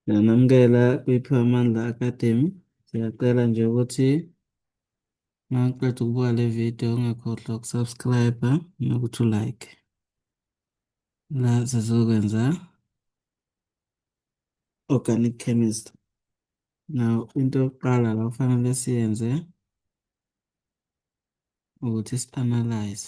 Ngiyanamukela kwiPhiwa Amandla Academy. Siyacela nje ukuthi uma uqeda ukubuka le video ungakhohlwa ukusubscribe nokuthi ulike. La sizokwenza organic chemist. Now into yokuqala la kufanele siyenze ukuthi si-analyze.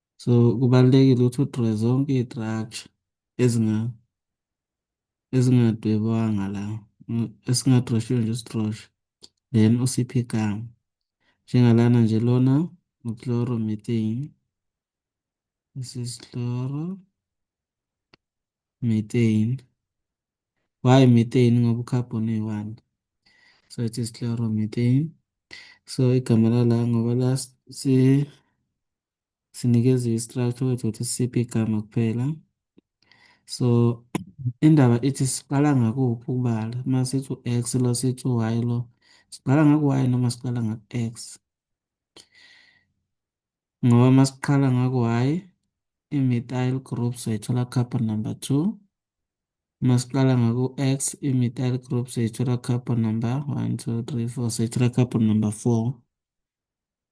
so kubalulekile ukuthi udre zonke iy'traktsha ezinga ezingadwebanga la esingadroshiwe nje usidroshe then usiphe igama njengalana nje lona uchloro methane this is chloro methane why methane ngoba ucarbon uyi-one so it is chloro methane so igama lala ngoba la si sinikezwe i-structure kwethu ukuthi sisiphi igama kuphela so indaba ithi siqala ngakuphi ukubala uma sithi u-x lo sithi u-y lo siqala ngaku-y noma siqala ngaku-x ngoba uma siqala ngaku-y i-methyl group soyithola carbon number two uma siqala ngaku-x i-methyl group soyithola carbon number one two three four soyithola carbon number four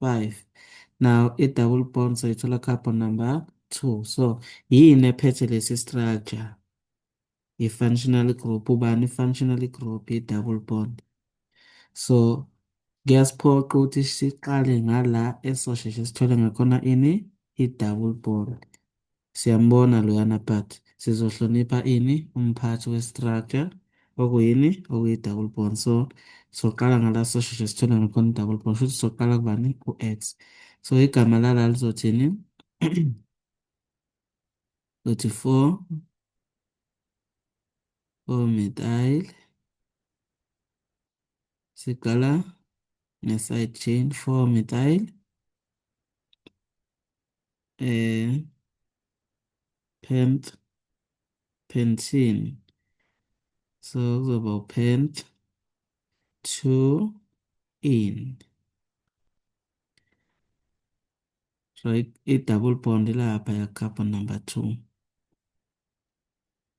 5 now i-double bond soyithola carbon number 2 so yini ephethe lesi structure i-functional group ubani i-functional group i-double bond so kuyasiphoqa ukuthi siqale ngala esosheshe sithole ngakhona ini i-double bond Siyambona loyana but sizohlonipha ini umphathi we-structure okuyini okuyi-double bond so soqala ngala sosheshe sithole ngakhona i-double bond shuthi soqala kubani ku-x so igama lala lizothini uthi 4 4 methyl siqala nge-side chain 4 methyl eh pent pentin so kuzoba upent to in so i-double bond ilapha ya-carbon number two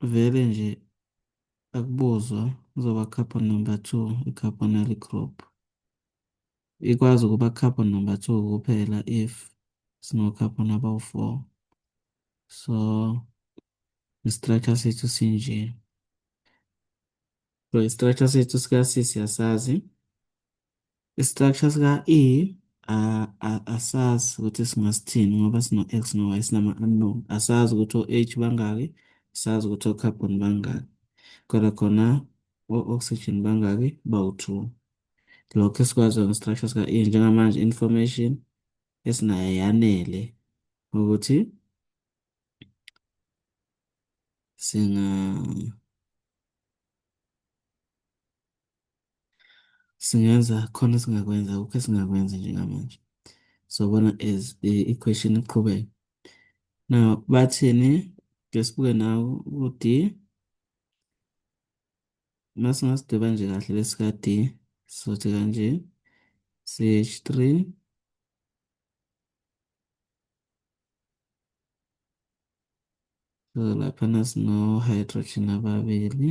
vele nje akubuzwa kuzoba couple number two i-carbonyl group ikwazi ukuba couple number two kuphela if sino-carbon abawu-four so i-structure sethu sinje so i-structure sethu sika-cis yasazi I-structure sika-E a- a- asazi ukuthi singasithini ngoba sino-X no-Y sinama-unknown. Asazi ukuthi o-H bangaki, asazi ukuthi o-carbon bangaki. Kodwa khona o-oxygen bangaki bawu-two. Lokho esikwaziyo nge-structure sika-E njengamanje information esinayo yanele ukuthi singa singenza khona singakwenza akukho esingakwenza njengamanje sobona as i-question iqhubeka now bathini ke sibuke nawo u-d uma singasidweba nje kahle lesika-d sizothi kanje ch3 so laphana sino-hydrogen ababili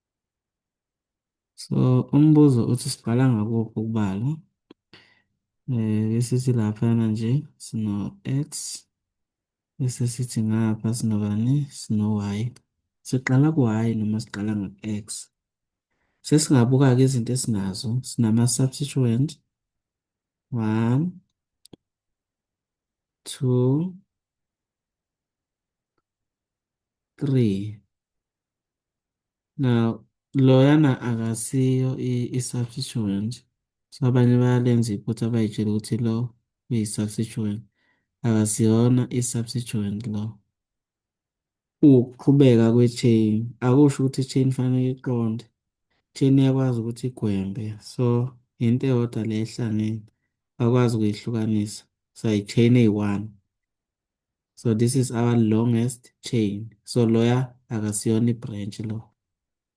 So umbuzo uthi sibhala ngakuphi ukubala eh bese sithi laphana nje sino x bese sithi ngapha sinobani sino y siqala ku y noma siqala ngo x sesingabuka ke izinto esinazo sinama substituent 1 2 3 Now, loyana akasiyo i-substituent. So abanye bayalenza iphutha bayitshela ukuthi lo uyi-substituent. Akasiyona i-substituent lo. Ukuqhubeka kwe-chain akusho ukuthi i-chain fanele iqonde. I-chain iyakwazi ukuthi igwembe. So into eyodwa le ehlangene bakwazi ukuyihlukanisa. So i-chain eyi-one. so this is our longest chain so loya akasiyona i-branch lo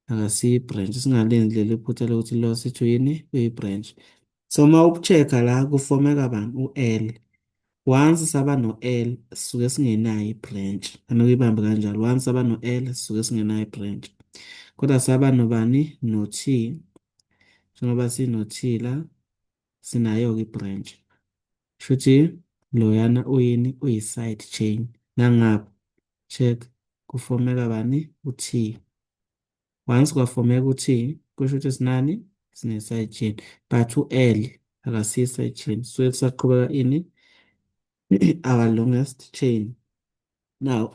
akasiyi branch singalenzi leli phutha lokuthi lo sithu yini uyi-branch so uma uku-check-a la kufomeka bani u-l once saba no-l sisuke singenayo i-branch ane uyibambe kanjalo once saba no-l sisuke singenayo i-branch kodwa saba nobani no-t njengoba sino-t la sinayo-ke i-branch shuthi loyana uyini uyi-side chain nangapha check kufomeka bani u-t once kwafomeka u-t kusho ukuthi sinani sine-side chain but u-l akasiyi-side chain suke kusaqhubeka ini our longest chain now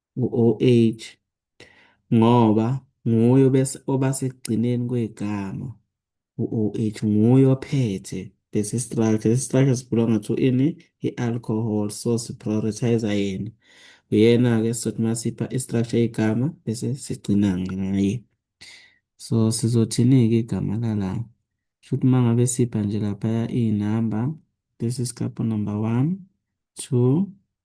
u-OH, ngoba nguye oba sekugcineni kwegama u-OH, nguye ophethe lesi structure. Lesi structure sibhulonga to ini? I-alcohol, so si-prioritize yena. Uyena-ke sizothi uma sipha i-structure yegama bese sigcina ngaye. So sizothini-ke igama lala? Shuthi uma ngabe sipha nje laphaya iy'namba, this is couple number one, two,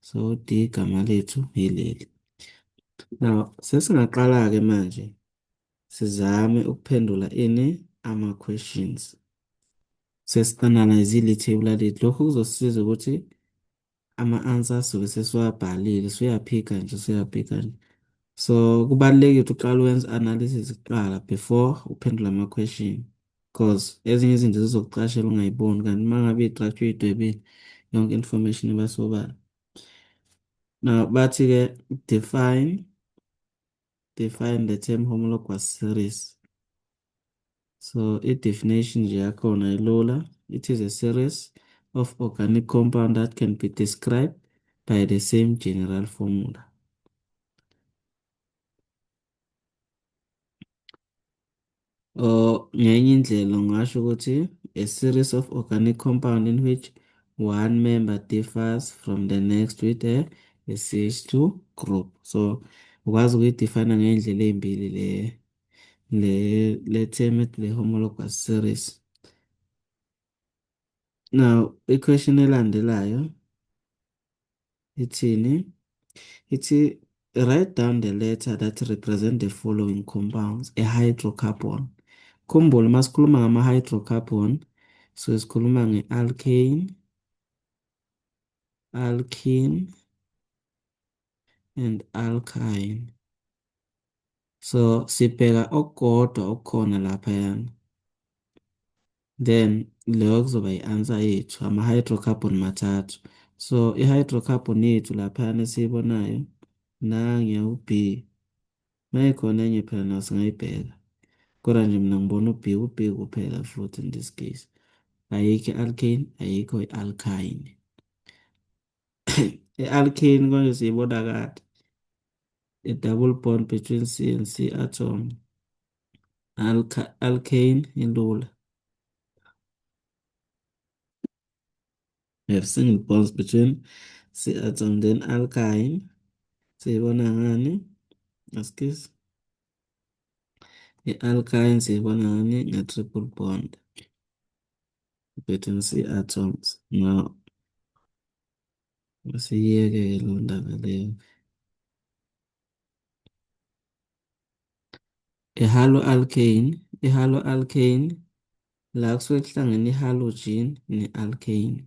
So D igama lethu yileli. Now sesingaqala-ke manje sizame ukuphendula ini ama-questions. Sesi-analyze-ile ithebula lethu. Lokhu kuzosisiza ukuthi ama-answer sobe sesiwabhalile, suyaphika nje, suyaphika nje. So kubalulekile ukuthi uqale wenze analysis kuqala before uphendula ama-question. cause ezinye izinto zizokucashela ungayiboni kanti uma ngabe idrajwe idwebile yonke information iba sobala now bathi-ke define define the term homologous series so i-definition nje yakhona ilula it is a series of organic compound that can be described by the same general formula Or ngenye indlela ungasho ukuthi a series of organic compound in which one member differs from the next with a, a CH2 group. So ukwazi ukuyidefine ngey'ndlela ey'mbili le le le term ethi le homologous series. Now, i-question elandelayo ithini? Ithi write down the letter that represent the following compounds, a hydrocarbon. Khumbula uma sikhuluma ngama-hydrocarbon, so sikhuluma nge-alkane, alkene, and alkyne. So sibheka okukodwa okukhona laphayana. Then leyo kuzoba i-answer yethu ama-hydrocarbon mathathu. So i-hydrocarbon yethu laphayana esiyibonayo nangiya u-B. Mayikhona enye phela nayo singayibheka. Kodwa nje mina ngibona u-B u-B kuphela futhi in this case. Ayikho i-alkane, ayikho i-alkyne. I-alkane konje siyibona kade. The double bond between C and C atom. Alka alkane ilula. We have single bonds between C atom then alkyne. Siyibona ngani? Askis. I-alkyne siyibona ngani? Nge-triple bond. Better see art songs. No. Usiyeke lo ndaba leyo. I-halo alkane, i-halo alkane la kusuke kuhlangene i-halogen ne-alkane.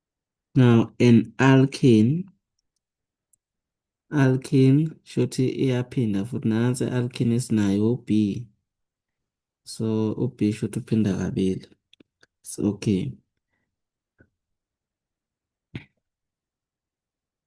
Now an alkene alkene shuthi iyaphinda futhi nansi alkene esinayo u-B so u-B shuthi uphinda kabili so okay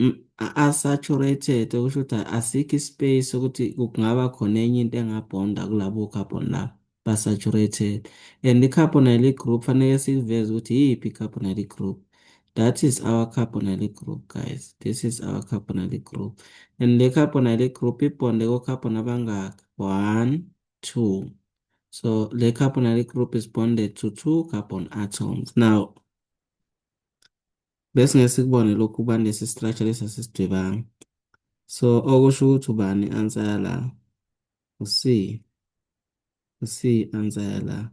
Mm, a- Unsaturated okusho ukuthi asikho ispace sokuthi kungaba khona enye into engabhonda kulabo carbon labo basaturated and i-carbonylic group fanele siveze ukuthi yiphi i-carbonylic group that is our carbonylic group guys this is our carbonylic group and le carbonylic group ibhonde ko-carbon abangaki one two so le carbonylic group is bonded to two carbon atoms now Besingeke sikubone lokhu ubani lesi structure lesi asisidwebanga. So okusho ukuthi ubani answer yala? U-C. U-C answer yala.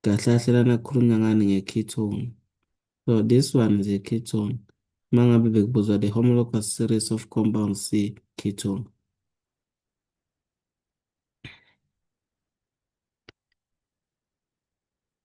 Kahle kahle lana kukhulunywa ngani nge-ketone. So this one is a ketone. Uma ngabe bekubuzwa the homologous series of compound C ketone.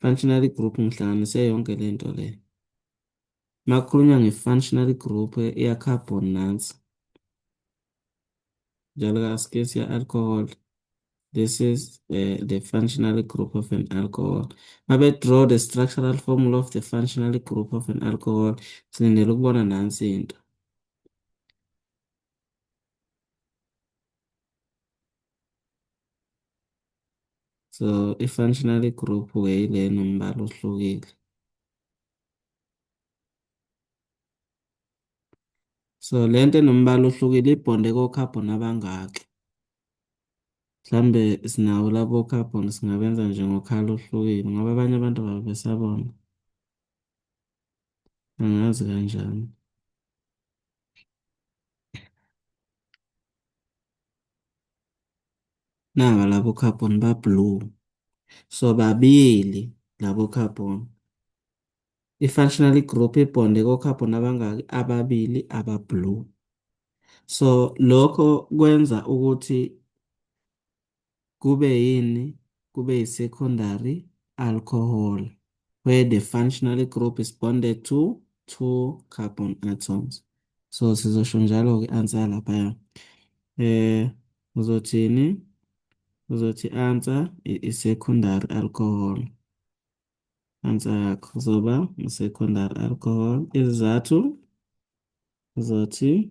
Functionary group ngihlanganise yonke le nto le. Uma kukhulunywa nge-functionary group iya-carbon nansi. Njalo asike siya-alcohol. This is uh, the functionary group of an alcohol. Uma be-draw the structural formula of the functionary group of an alcohol, silindele ukubona nansi into. So i-functional group ke ile nombala ohlukile. So lento enombala ohlukile ibhonde ko-carbon abangaki? Mhlambe sinawo labo carbon singabenza nje ngokhala ohlukile ngoba abanye abantu babe besabona. Angazi kanjani. naba labo carbon ba blue so babili labo carbon i-functional group ibonde ko-carbon abangaki ababili aba blue so lokho kwenza ukuthi kube yini kube yi-secondary alcohol where the functional group is bonded to two carbon atoms so sizosho njalo ke answer laphaya eh uzothini uzothi answer i-secondary alcohol answer yakho kuzoba i-secondary alcohol izizathu uzothi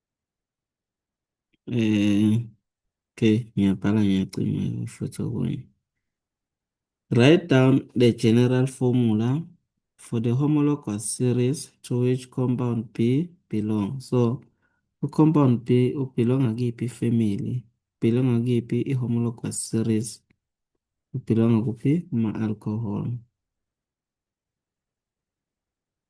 Eh, okay, ngiyabhala ngiyacima futhi okunye. Write down the general formula for the homologous series to which compound B belongs. So, u-compound B ubelonga kuyiphi family? Ubelonga kuyiphi i-homologous series? Ubelonga kuphi? Kuma-alcohol.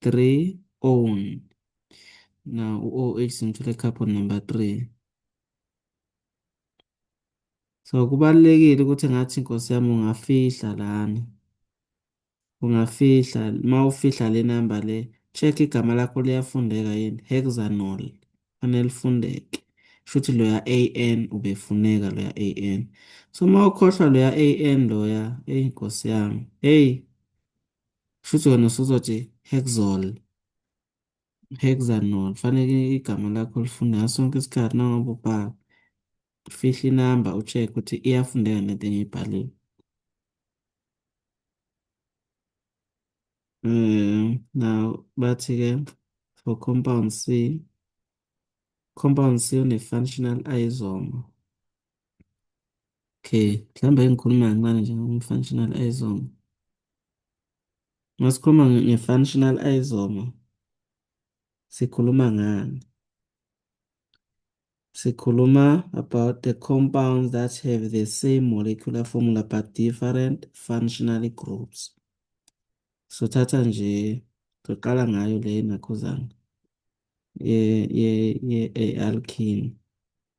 3 own na u-OH simthola i-carbon number 3 so kubalulekile ukuthi ngathi nkosi yami ungafihla lana ungafihla uma ufihla le namba le check igama lakho liyafundeka yini hexanol fanele lifundeke shuthi loya AN ubefuneka loya AN so uma ukhohlwa loya AN loya eyi nkosi yami eyi Futhi wena usuzothi hexol, hexanol. Fanele igama lakho lifunde ngaso sonke isikhathi nangoba ubhala. Fihla inamba ucheck ukuthi iyafundeka nento engiyibhalile. Um, now bathi-ke for compound C, compound C une-functional isomer. Okay, mhlawumbe engikhuluma kancane nje ngomfunctional isomer. Uma sikhuluma nge- nge-functional isomer, sikhuluma ngani? Sikhuluma about the compounds that have the same molecular formula but different functional groups. Sothatha nje, soqala ngayo le nakhuzana ye ye ye alkene.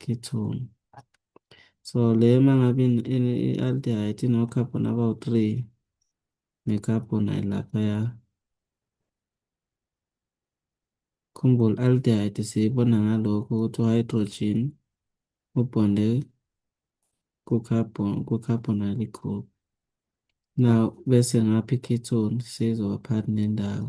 ketone. So le uma ngabe i-aldehyde ino-carbon abawu-three ne-carbon ayilaphaya. Khumbula aldehyde siyibona ngalokho ukuthi u-hydrogen ubonde ku-carbon ku-carbon aligroup. Now bese ngapha i-ketone seyizoba phakathi nendawo.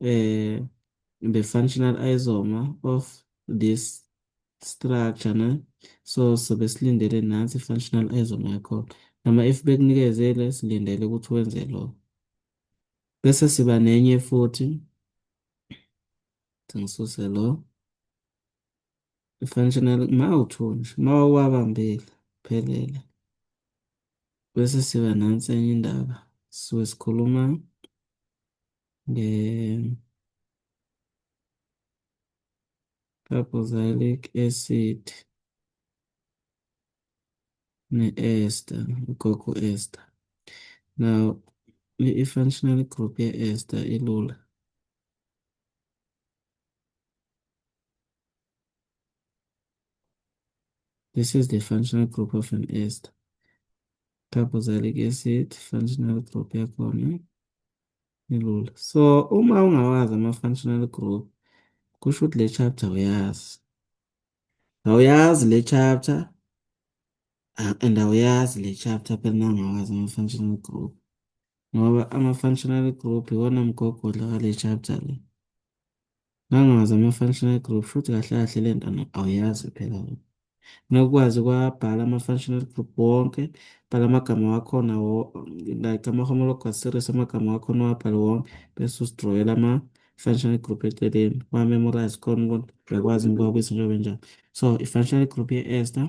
eh the functional isomer of this structure ne so sobe silindele nansi functional isomer yakho noma if bekunikezele silindele ukuthi wenze lokho bese siba nenye futhi ngisuse lo Functional uma uthunje uma wawabambile phelele bese siba nansi enye indaba sisuke sikhuluma nge carboxylic acid ne-ester ugogo ester now i-functional group ye-ester ilula This is the functional group of an ester. Carboxylic acid, functional group yakhona ilula. So uma ungawazi ama-functional group, kusho ukuthi le chapter uyazi. Awuyazi le chapter and awuyazi le chapter phela nangawazi ama-functional group. ngoba ama-functional group iwona mgogodla wale chapter le. Ngangazi ama-functional group futhi kahle kahle le nto awuyazi phela wena. Nokwazi kwabhala ama-functional group wonke, bhala amagama wakhona wo like ama-homologous series amagama wakhona uwabhale wonke bese usidrawela ama-functional group eceleni, uwa-memorize khona ukuthi uyakwazi yini ukuwabuyisa njengoba enjalo. So i-functional group ye-ester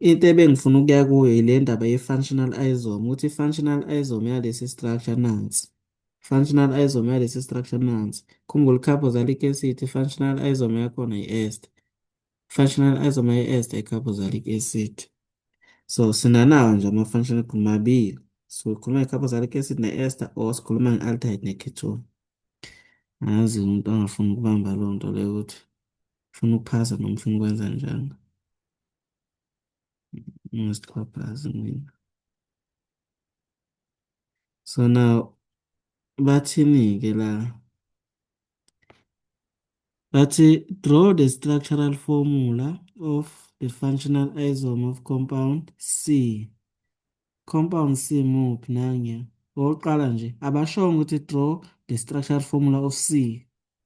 Into ebengifuna ukuya kuyo yile ndaba ye-functional isome, ukuthi i-functional isome yalesi structure nansi. Functional isome yalesi structure nansi. Khumbula i-carboxylic acid, i-functional isome yakhona yi-ester. Functional isome ye-ester i-carboxylic acid. So sinanawo nje ama-functional group mabili. So sikhuluma nge-carboxylic acid ne-ester or sikhuluma nge-aldehyde ne-ketone. Angazi umuntu angafuni ukubamba leyo nto leyo ukuthi ufuna ukuphasa noma ufuna ukwenza njani. Ngisixhaphazi mina. So now bathini-ke la? Bathi draw the structural formula of the functional isomer of compound C. Compound C muphi nangiya? Owokuqala nje abashongo ukuthi draw the structural formula of C.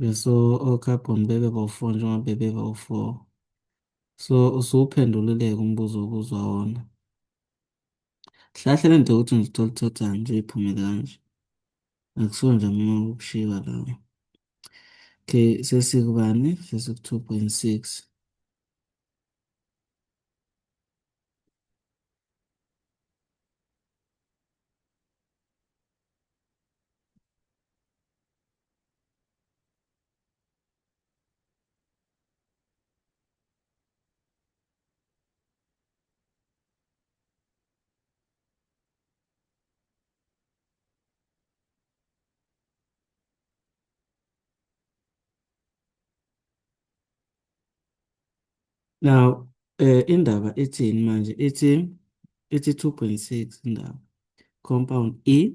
Beso okhabhoni bebe bawu-4 njengoba bebe bawu-4. So usuwuphendulile-ke umbuzo obuzwa wona. Hlahle le nto yokuthi ngizithola uthathani nje iphumele kanje. Akusona nje mina ukushiwa lawo. Okay, sesikubani? Sesiku-2.6. Now, eh indaba ithini manje? Ithi ithi 2.6 indaba. Compound E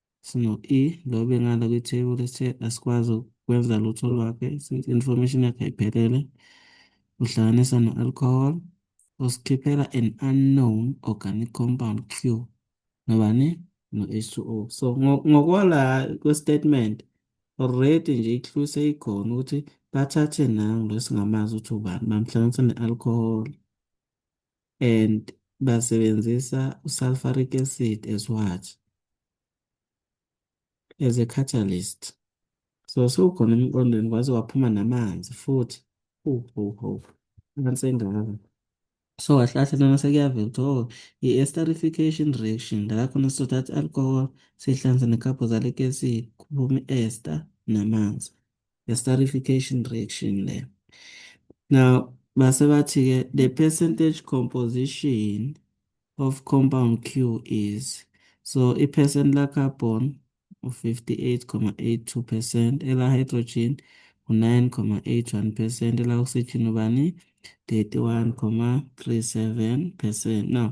sino-E lo bengala kwithebula sithe asikwazi ukwenza lutho lwakhe since information yakhe ayiphelele uhlanganisa no-alcohol usikhiphela an unknown organic compound q nobani no-h2o so ngokwala kwestatement already nje i-clue seyikhona ukuthi bathathe nangu lo singamazi ukuthi ubani bamhlanganisa ne-alcohol and basebenzisa usulfuric acid as what as a catalyst so sewukhona emqondweni kwaze waphuma namanzi futhi ho ho ho amanzi engaka so kahle kahle lana sekuyavela ukuthi oh i-esterification reaction la khona sizothatha i-alcohol sihlanze ne-carboxylic acid kuphume i-ester namanzi esterification reaction le now base bathi ke the percentage composition of compound Q is so i percent la carbon u 58,82% ela hydrogen u 9,81% ela oxygen ubani 31,37% now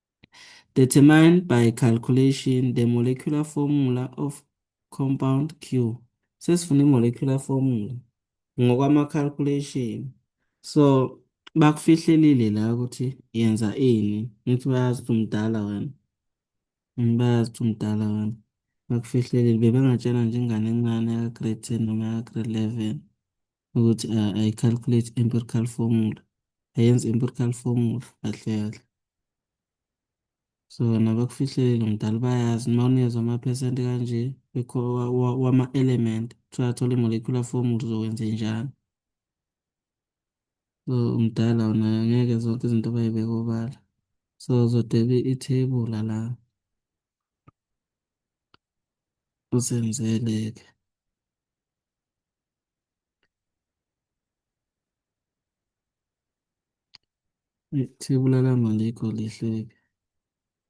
Determine by calculation the molecular formula of compound Q. Sesifuna i-molecular formula ngokwama-calculation. So, bakufihlelile la ukuthi yenza ini. Ngithi bayazi ukuthi umdala wena. Mm, bayazi ukuthi umdala wena. Bakufihlelile. Bebengatshena nje ingane encane yaka-grade 10 noma yaka-grade 11. ukuthi uh, I calculate empirical formula ayenze empirical formula kahle kahle so nabakufihlelile mdala bayazi uma unezwa amaphesenti kanje wama-element kuthiwa athole i-molecular formula uzokwenze njani so umdala wona ngeke zonke izinto bayibeke obala so uzodebe ithebula la usenzele-ke Ithebula lami alikho lihleke.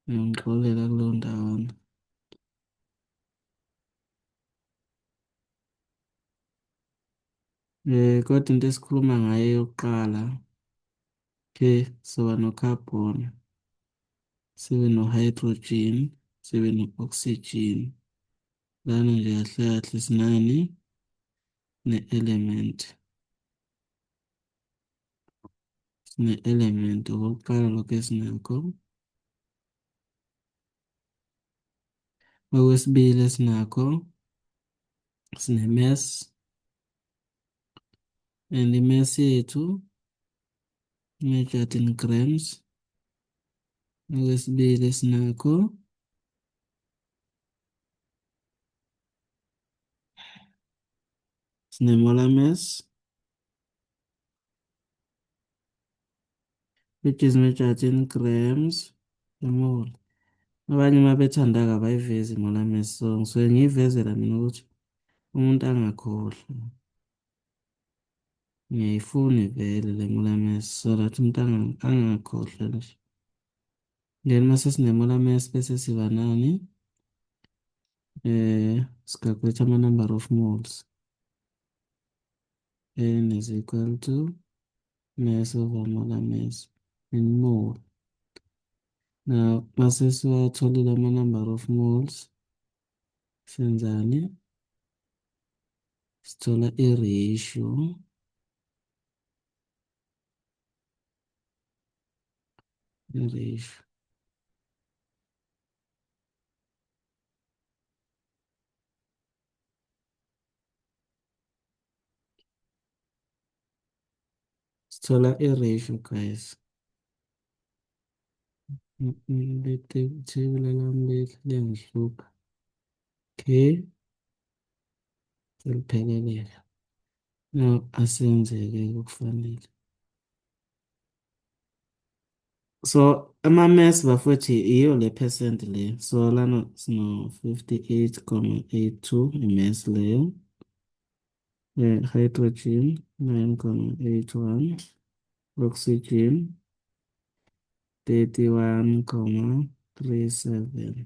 Ngiyongixolela kuleyo ndawana. Eh, kodwa into esikhuluma ngayo yokuqala, okay, soba no-carbon, sibe no-hydrogen, sibe no-oxygen, Lana nje kahle kahle sinani ne-element. Sine-element okokuqala lokho esinakho. Okwesibili esinakho sine-mass and i-mass yethu measured in grams. Okwesibili esinakho Sinemolames. Which is measured in grams per mole. Abanye uma bethanda kabayivezi imolames so ngisuke ngiyivezela mina ukuthi umuntu angakhohlwa. Ngiyayifuna ivele le molames so that umuntu angakhohlwa nje. Then mase sinemula mess bese siba nani? Eh, sicalculate ama number of moles. N is equal to mass over molar mass in mole. Now, mase siwatholile ama number of moles senzani? Sithola i-ratio English. Sithola i-ratio guys. Lethebula lami liyangihlupha. Okay. Selupheleleka. No, asenzeke okufanele. So ama-mass bafowethu yiyo le percent le. So lana sino-58,82 i-mass leyo. Eh, hydrogen 9,81. Oxygen 31,37.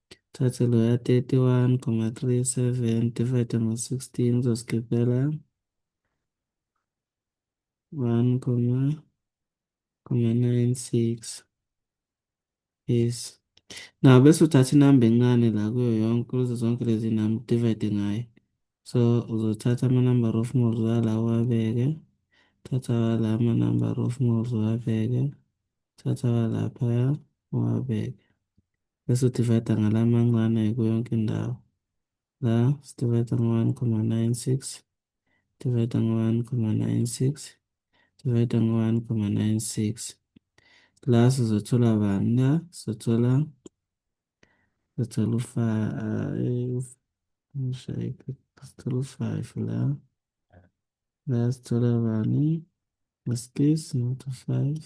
Thathe loya 31,37 divide ngo-16 uzosikhiphela 1,96 yes now bese uthatha inamba encane la kuyo yonke kuzo zonke lezi namba divide ngayo so uzothatha ama-number of moles wala uwabeke thatha wala ama-number of moles uwabeke thatha walaphaya uwabeke bese udivayida ngala mancane kuyonke indawo la sidivayida ngo-one comma nine six divayida ngo-one comma nine six divayida ngo-one comma nine six la sizothola bani la sizothola sizothola u-five sizothola u-five la la sizothola bani maskis not u-five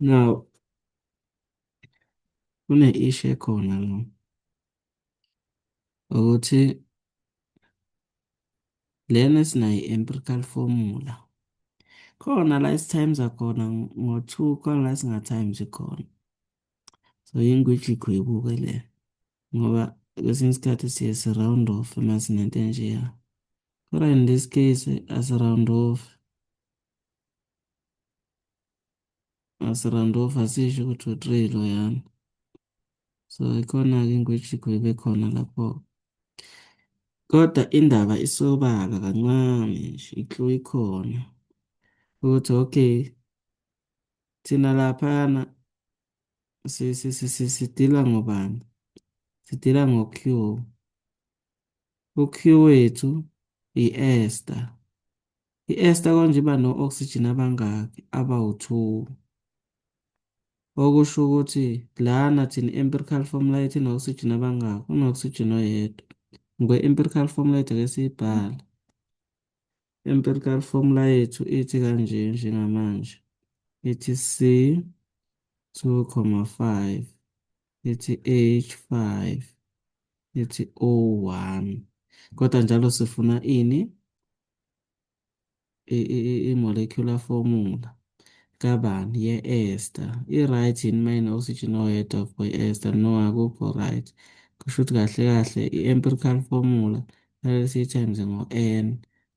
Now, kune-issue ekhona la ukuthi lena esinayo i-empirical formula khona la esi-times akhona ngo-2 khona la singa-times khona so yingwidla igwebuke le ngoba kwesinye isikhathi siye si-round off uma sinento enjeya kodwa in this case asi-round off asirandova sisho ukuthi u-three loyana so ikhona-ke ingwejikho ibe khona lapho kodwa indaba isobala kancane nje iklu ikhona ukuthi okay thina laphana sidila ngobani sidila ngo-q u-q wethu i-ester I-ester konje iba no-oxygen abangaki? Abawu-2. Okusho ukuthi lana thina i-empirical formula yethu ino-oxygen abangaki? Uno-oxygen oyedwa. Ngikwe-empirical formula yethu ake siyibhale. Empirical formula yethu ithi kanje njengamanje. Ithi C 2,5 ithi H5 ithi O1 kodwa njalo sifuna ini i-molecular formula kabani ye-ester i-right yini uma ine-oxygen oyedwa for i-ester no akukho right kusho ukuthi kahle kahle i-empirical formula kumele siyi-times ngo-n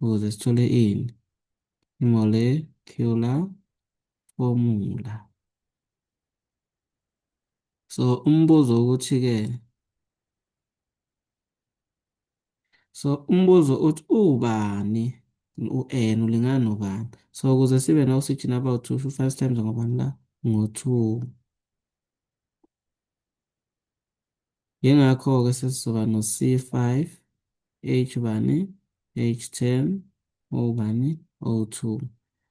ukuze sithole ini i-molecular formula so umbuzo ukuthi-ke so umbuzo uthi ubani u-n ulingana nobani so ukuze sibe ne-oxygen about two sho five times ngobani la ngo-two yingakho-ke sesizoba no-c five h bani h ten o bani o two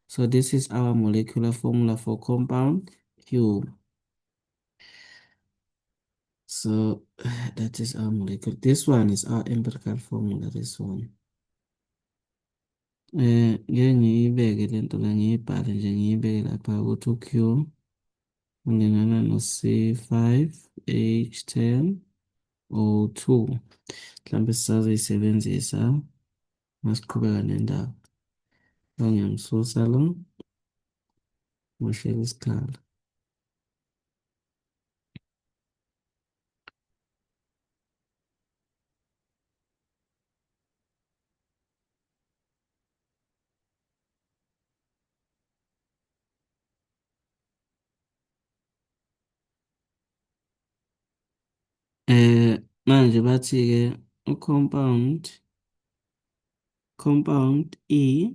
so this is our molecular formula for compound q So that is our molecular. This one is our empirical formula, this one. Eh, ngeke ngiyibeke le nto le ngiyibhale nje ngiyibeke lapha ukuthi u-Q ulingana no-C5H10 O2. Mhlawumbe sisazoyisebenzisa masiqhubeka nendaba. Ngiyamsusa lo. Ngishela isikhala. Eh, manje bathi-ke u-compound, compound E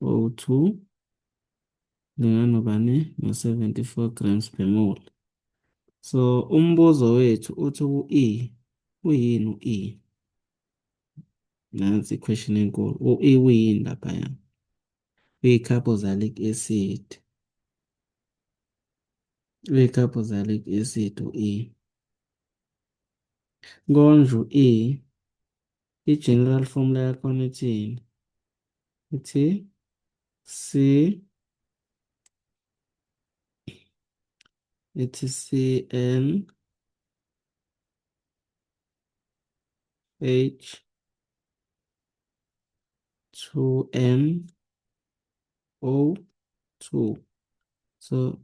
O2 lingana bani no-74 grams per mole. So umbuzo wethu uthi u-E uyini u-E? Nansi i-question enkulu. U-E uyini laphaya? Uyi-carboxylic acid. Uyi-carboxylic acid u-E. Konje u-E I-general formula yakhona ithini? Ithi C ithi CN H 2N O2 so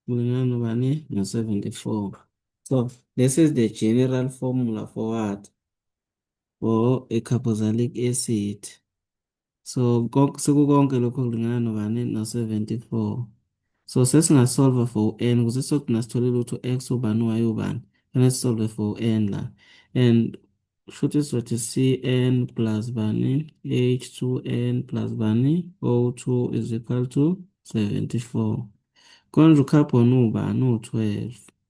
mulingana ubani no-74 so this is the general formula for what or a carboxylic acid so sekukonke lokho kulingana nobani no-74 so sesingasolva for u-n kuze sogcina sithole lutho x ubani y ubani fanele sisolve for u-n la and shuthi sizothi cn plus bani h2n plus bani o2 is equal to 74 konje ucarbon ubani u-12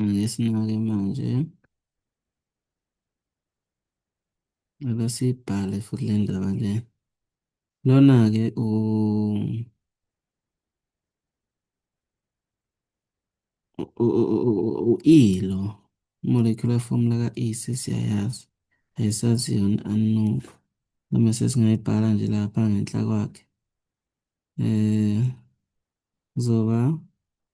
Ake sinake manje. Ake sibhale futhi le ndaba le. Lona-ke u u-E lo molecular formula ka-E sesiyayazi ayisazi yona unknown noma sesingayibhala nje lapha ngenhla kwakhe um kuzoba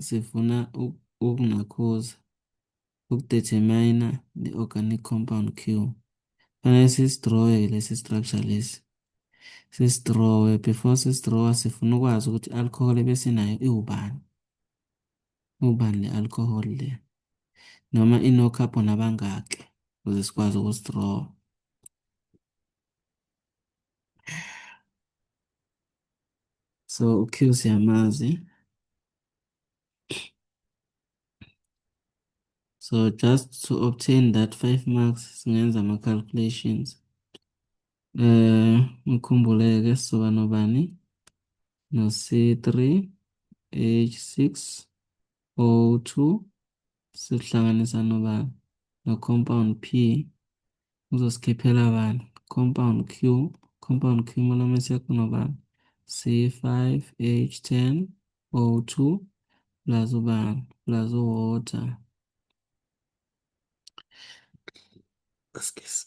sifuna ukunakhuza ukudetermina the organic compound Q fanele sisidrowe lesi structure lesi sisidrowe before sisidrowa sifuna ukwazi ukuthi alcohol ebesinayo iwubani ubani le alcohol le noma ino carbon abangaki ukuze sikwazi ukusidrowa So uQ siyamazi. So just to obtain that 5 marks singenza ama calculations. Eh ngikhumbuleke soba nobani no C3 H6 O2 sihlanganisa nobani no compound P uzosikhiphela bani compound Q compound Q monomers yakho nobani C5H10 O2 plus ubani plus water excuse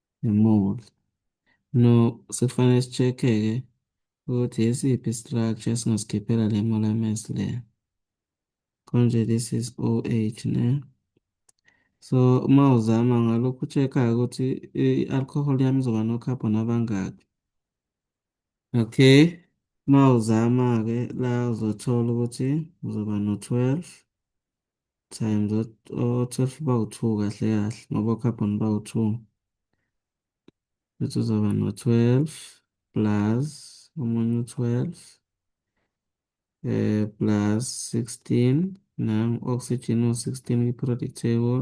emuva. No, sekufanele sicheck-ke ukuthi yisiphi i-structure esingasikhiphela le monomerase le. Konje this is OH ne. So uma uzama ngalokhu check-a-ke ukuthi i-alcohol yami izoba no-carbon abangaki. Okay, uma uzama-ke la uzothola ukuthi uzoba no-12 times o-twelve bawu-two kahle kahle ngoba o-carbon bawu-two bese uzoba no-twelve plus omunye u-twelve eh plus 16 nam oxygen u-16 kwi-periodic table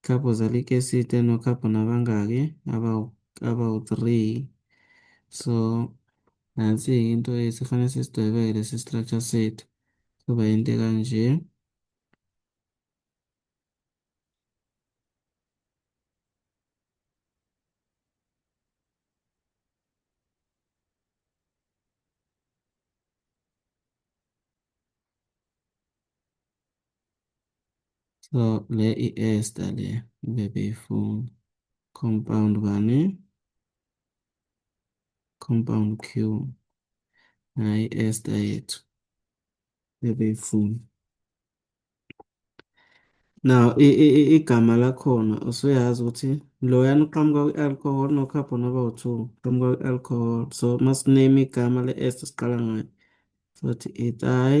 Couple zalike site no couple nabangaki abawu abawu 3 so nansi into esifanele sisidwebeke lesi structure sethu kuba into kanje So le i-ester le bebeyifuna compound bani compound Q nayi i-ester yethu bebeyifuna now igama lakhona usuyazi ukuthi loyana uqhamuka kwi-alcohol no-carbon aba u-two uqhamuka kwi-alcohol so masiname igama le-ester siqala ngayo sothi itai